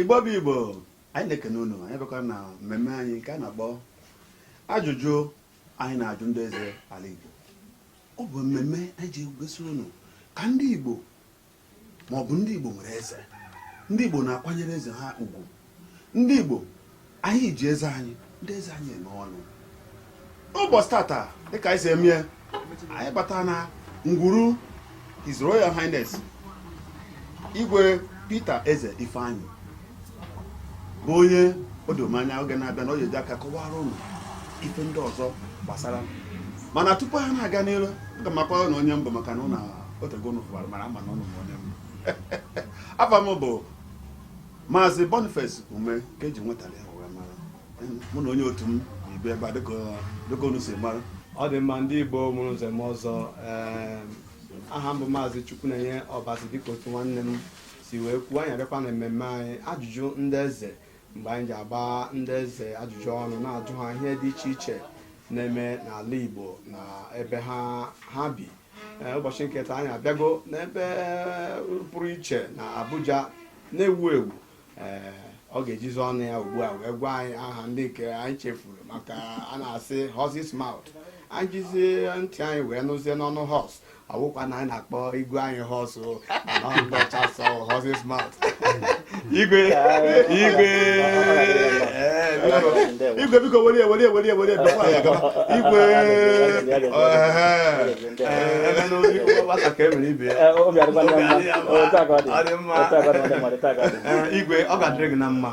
igbo bụ igbo anyị na-ekene unu anyị bịakwa na mmemme anyị nke a na-akpọ ajụjụ anyị na-ajụ ndị eze ala Igbo ọ bụ mmemme anyị ji egosi unu ka ndị Igbo ma ọ bụ ndị Igbo nwere eze ndị Igbo na-akwanyere eze ha ugwu ndị Igbo anyị ji eze anyị ndị eze anyị eme ọnụ ụbọchị tata dịka anyị si eme anyị bata na ngwuru His Royal Highness Igwe Peter Eze Ifeanyi bụ onye o doro m anya oge na-abịa na ọ ga-eji aka kọwara ụnụ ife ndị ọzọ gbasara ya mana tupu ha na-aga n'iru aga m akọrọ ụnụ onye m bụ maka na otego ụnụ fụwara m ama m na ụnụ ma onye m bụ afa m bụ maazị boniface ume ka eji nwetara ya wee mara mụ na onye otu m ibe ebe a dịka unu si mara ọ dị mma ndị igbo mụrụ nze mụọ ọzọ ee aha m bụ maazị chukwunenye ọbasi dịka otu nwanne m si wee kwuo anyị abịakwa na mmemme anyị ajụjụ ndị eze mgbe anyị ji agba ndị eze ajụjụ ọnụ na-ajụ ha ihe dị iche iche na-eme n'ala Igbo na ebe ha ha bi Ee, ụbọchị nke taa anyị abịago n'ebe pụrụ iche na Abuja na-ewu ewu ee ọ ga-ejizi ọnụ ya ugbu a wee gwa anyị aha ndị nke anyị chefuru maka a na-asị horse's mouth anyị jizie ntị anyị wee nụzie n'ọnụ horse ọ wụkwa na anyị na-akpọ igwe anyị horse igwe igwe igwe biko welie welie welie welie igwe igwe ọ ga-adịrị gị na mma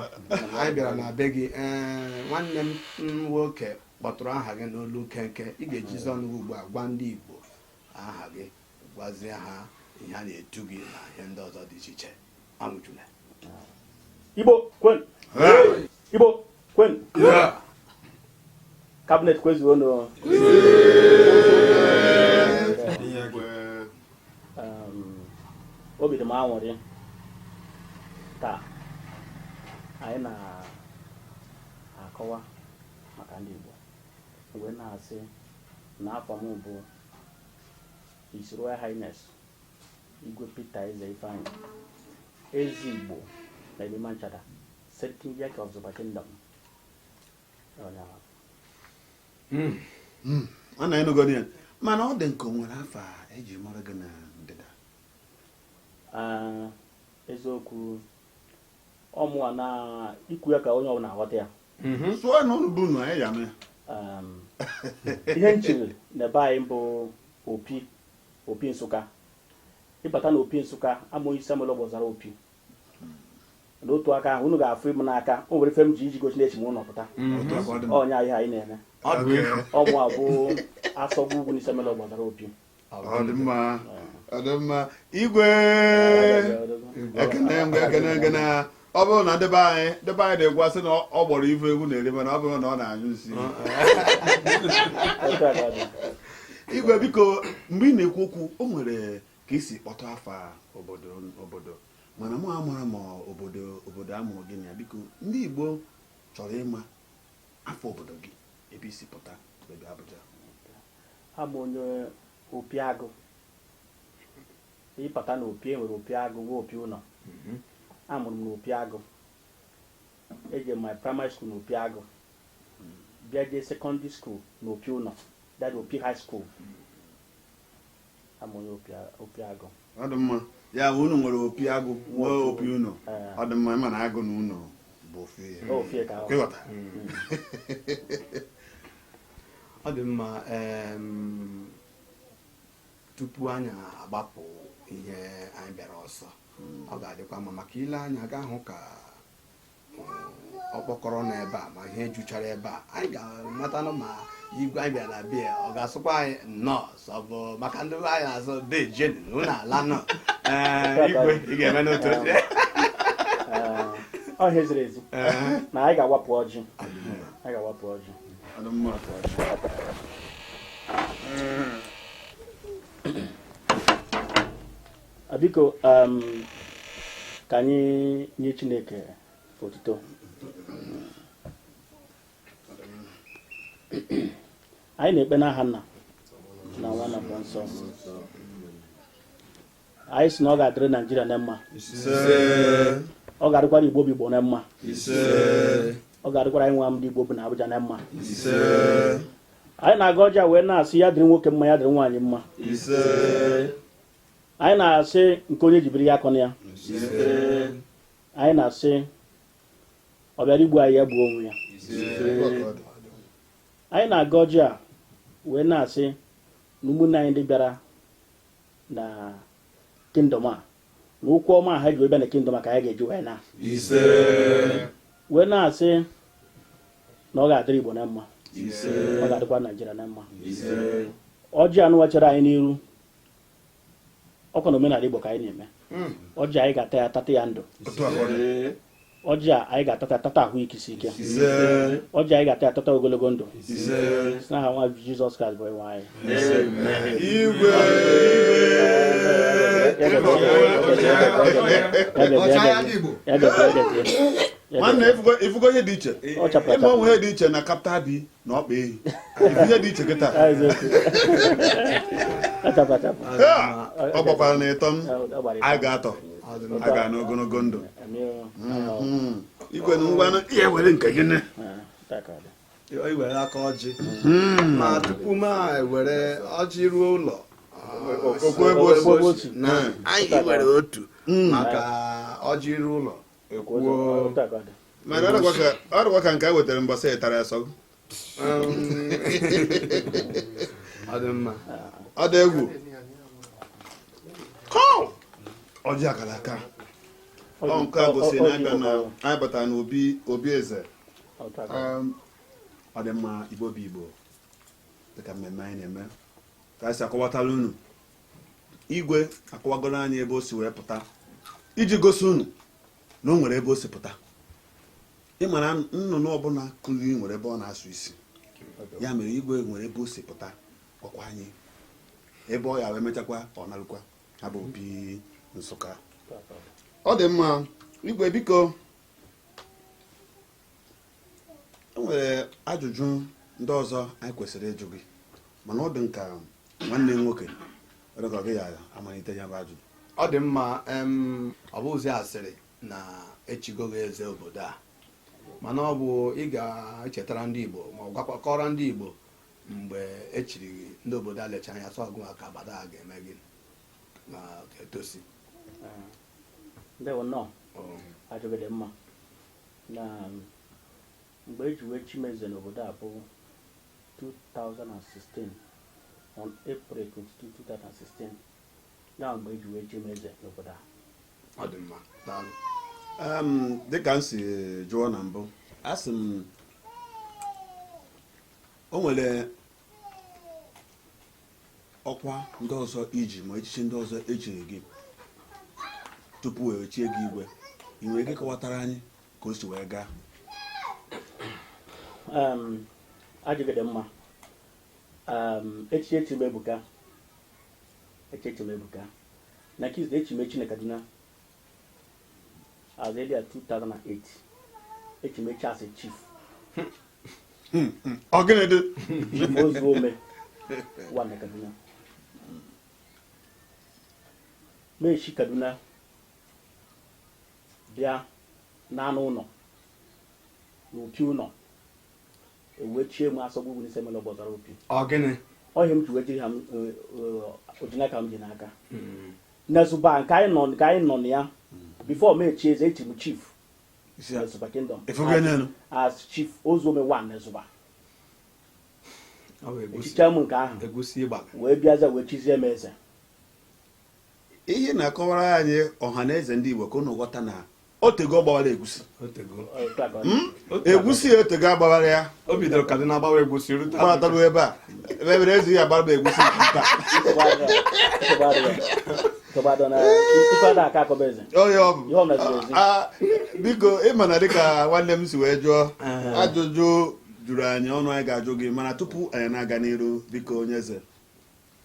anyị bịara na be gị nwanne m nwoke kpọtụrụ aha gị n'olu nkenke ị ga-ejizi ọnụ gị ugbu a gwa ndị Igbo aha gị gwazie ha ihe a na-etu gị na ihe ndị ọzọ dị iche iche anwụchula Igbo kwenu Igbo kwenu cabinet kwezuonu obi dị m anwụrị taa anyị na-akọwa maka ndị Igbo wee na-asị na afa m bụ His Royal Highness Igwe Peter Eze Ifeanyi Eze Igbo na Yerima Nchada Sarkin Yaki of Zuba Kingdom hmm. Hmm. anyị anụgo ya mana ọ dị ka e nwere afa e ji mara gị na ndịda ah, eziokwu ọmụwa na ikwu ya ka onye ọbụla aghọta ya mhm. so na ụnụ bụ unu anyị ya mee um, ihe m chiri na be anyị bụ opi opi nsụka ị bata na opi nsụka abụ m onye isi amụlọ ogbozara opi n'otu aka ahụ unu ga-afụ m n'aka o nwere ife m ji iji gosi na e chiri m n'ụlọ pụta mhm. ọnya ihe anyị na-eme ọ mụ bụ asogwa ugwu n'isi amụlọ ogbozara opi ọ dị mma ọ dị mma igwe ekene m gị ekene ekene ọ bụrụ na ndị be anyị ndị be anyị na-ekwu asị na ọ gbọrọ ife ewu na-eri mana ọ bụrụ na ọ na-anyụ nsị igwe biko mgbe ị na-ekwu okwu o nwere ka i si kpọtụ afa obodo mana mụ amarọ ma ọ bụ obodo a mụrụ gị na ya biko ndị Igbo chọrọ ịma afa obodo gị ebe i si pụta ebe Abuja abụ m onye opi agụ ị pụta na opi e nwere opi agụ nwee opi ụnọ mhm. a mụrụ m na opi agụ eje my primary school na opi agụ bịa jee secondary school na opi ụnọ that is opi high school ọ dị mma ya bụ unu nwere opi agụ nwee opi ụnọ ọ dị mma ị ma na agụ na ụnọ bụ ofe ịghọta ọ dị mma tupu anyị agbapụ ihe anyị bịara ọsọ ọ ga-adịkwa mma maka i lee anya ị ga-ahụ ka ọ kpọkọrọ na ebe a ma ihe juchara ebe a anyị ga-amatanụ ma igwe anyị bịara na be ya ọ ga-asịkwa anyị nnọọ so ọ bụ maka ndị be anyị na-asị deje nụ nnọọ ala nụ Ee, igwe ị ga-eme n'otu oche ọ ihe ziri ezi Ee. na anyị ga-awapụ ọjị anyị ga-awapụ ọjị biko um, ka anyị nye Chineke otuto anyị na-ekpe n'aha nna na nwa na mmụọ nsọ anyị sị na ọ ga-adịrị naijiria na mma ọ ga-adịkwara igbo bụ igbo na mma ise ọ ga-adịkwara anyị nwa ndị igbo bi na abụja na mma ise anyị na-agọ ọjị a wee na-asị ya dịrị nwoke mma ya dịrị nwaanyị mma anyị na-asị nke onye jibiri ya akọ na ya anyị na-asị ọ bịara igbu anyị ya gbuo onwe ya anyị na-agọ ọjị a wee na-asị na ụmụnne anyị ndị bịara na kingdom a na ụkwụ ọma ha ji wee bịa na kingdom a ka anyị ga-eji wee naa wee na-asị na ọ ga-adịrị Igbo na mma ọ ga-adịkwara Naijiria na mma ọjị a nụnwa chere anyị n'iru ọkwa na omenala Igbo ka anyị na-eme hmm. ọjị anyị ga-ata ya tata ya ndụ ọjị a anyị ga-ata ya tata ahụ isi ike ọjị anyị ga-ata ya tata ogologo ndụ si n'aha nwa Jizọs Kraịst bụ Onyenwe anyị nwanne ị fugo ihe dị iche ị ma o nwe ihe dị iche na kapta bi na ọkpa ehi ihe dị iche kịta ọ gbakwara na ịtọ anyị ga-atọ a ga n'ogologo ndụ hmm. igwe na ngwa i were nke gị nne i were aka ọjị hmm. ma tupu m ewere ọjị ruo ụlọ o kwuo ebe otu na hmm. anyị were otu maka ọjị ruo ụlọ mana ọ dịkwa ka nke a wetara mbọsị ị tara ya sị ọ dị egwu ọjị akara aka ọ nke a gosi na abịa na anyị batara na obi eze ọ dị mma Igbo bụ Igbo dịka mmemme anyị na-eme ka anyị si akọwatara unu igwe akọwagoro anyị ebe o si wee pụta iji gosi unu na o nwere ebe o si pụta ị mara nnụnụ ọbụla kụrụ nwere ebe ọ na-asụ isi ya mere igwe nwere ebe o si pụta gwakwa anyị ebe ọ ya wee mechakwa ọ narụkwa ha bụ Opi Nsụka ọ dị mma igwe biko e nwere ajụjụ ndị ọzọ anyị kwesịrị ịjụ gị mana ọ dị m ka nwanne m nwoke were ka ọ gị ya-amalite ya bụ ajụjụ ọ dị mma ọ bụzi asịrị na e chigo gị eze obodo a mana ọ bụ ị ga-echetara ndị Igbo ma ọ bụkwa kọọrọ ndị Igbo mgbe e chiri gị ndị obodo a lecha anya sị ọ gịnwa ka agbada a ga-eme gị ka etosi ndewo nnọọ ajụjụ dị mma na mgbe e ji wee chi m eze n'obodo a bụ 2016 on April 22 2016 ya mgbe e ji wee chi m eze n'obodo a ọ dị mma daalụ Em, dịka m si jụọ na mbụ a sị m o nwere ọkwa ndị ọzọ iji ma echichi ndị ọzọ echiri gị tupu wee chie gị igwe ị nwere ike kọwatara anyị ka o si wee gaa ajụjụ dị mma echichi echi m ebuka echichi echi m ebuka nke izizi echi m echi na kaduna As early as 2008. echi m echi as a chief. Ọgịnịdị. Chief Ozuome One na Kaduna. M si Kaduna bịa n'anụ ụlọ n'opi ụlọ ewee chie m as Ọgbugbu n'ise mere Ọgbọzara Opi. Ọgịnị. Ọ ihe m ji wee jiri ha ojinaka m ji n'aka. na Zuba nke anyị nọ na ya before m echi eze echi m chief Isi ya. na Zuba Kingdom Efugo ya n'elu. as chief Ozuome one na Zuba Ọ bụ egusi- echichaa m nke ahụ egusi ịgbaga wee bịaza wee chizie m eze ihe na-akọwara anyị ọha na eze ndị igbo ka unu ghọta na otego ọ gbawara egusi hmm? egusi ya otego agbawara ya o bidoro Kaduna gbawa egusi gbatago ebe a ebe ebere ezi ya agbara m egusi nta biko ịma na dịka nwanne m si wee jụọ ajụjụ juru anyị ọnụ anyị ga-ajụ gị mana tupu anyị na-aga n'iru biko onye eze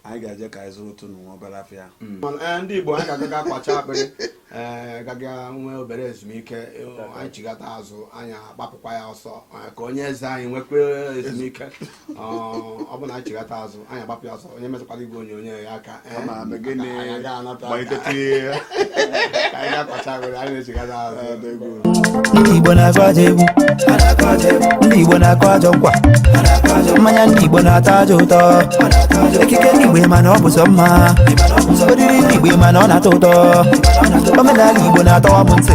anyị ga-eje ka anyị zụrụ otu nwa obere afịa hmm. eh, ndị Igbo anyị ga-aga ga-akwacha akpịrị eh, gaga nwee obere ezumike eh, anyị chigata azụ anyị agbapụkwa ya ọsọ ka onye eze anyị nwekwa ezumike ọ bụ na anyị chigata azụ anyị agbapụ ya ọsọ onye emetụkwala igwe onyonyo ya aka malite tinye ya ka anyị ga-akwacha akpịrị anyị na-echigata azụ ọdọ egwu ndị igbo na-agụ ajọ egwu ndị igbo na-akụ ajọ nkwa mmanya ndị igbo na-atọ ajọ ụtọ ekike ndị igbo ma na ọ bụ sọ mma oriri ndị igbo ma na ọ na-atọ ụtọ omenala igbo na-atọwa m ntị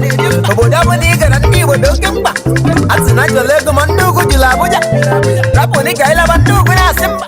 obodo ọbụla ị gara ndị igbo dị oke mkpa a sị na nchọla ego ma ndị ugwu jụrụ abụja rapụ dị ka ịlaba ndị ugwu na-asị mba